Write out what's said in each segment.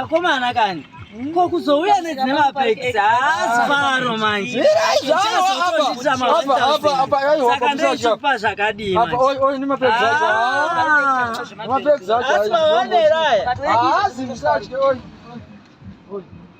akomana ah, kani ko kuzouya nedzine mapekisi haasi faro manje saka ndochipa zvakadii mapekisi acho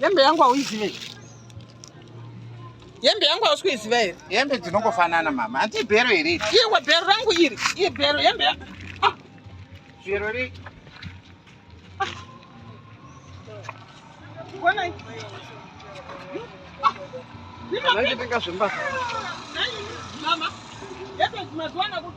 Hembe yangu hauizive here? Hembe yangu hausi kuiziva here? Hembe dzinongofanana mama, hanti ibhero here? Iwe bhero rangu iri, iye bhero hembe ya ah. Bhero ri ah. Kuonai. Mama, yepe mazuva anakuti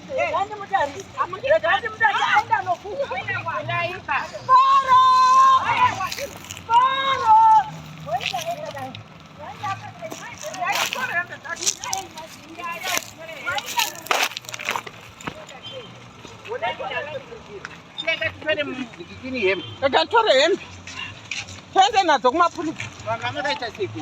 Kakatore hembe. Twende nadzo kumapurisa. Vanga makaita siku.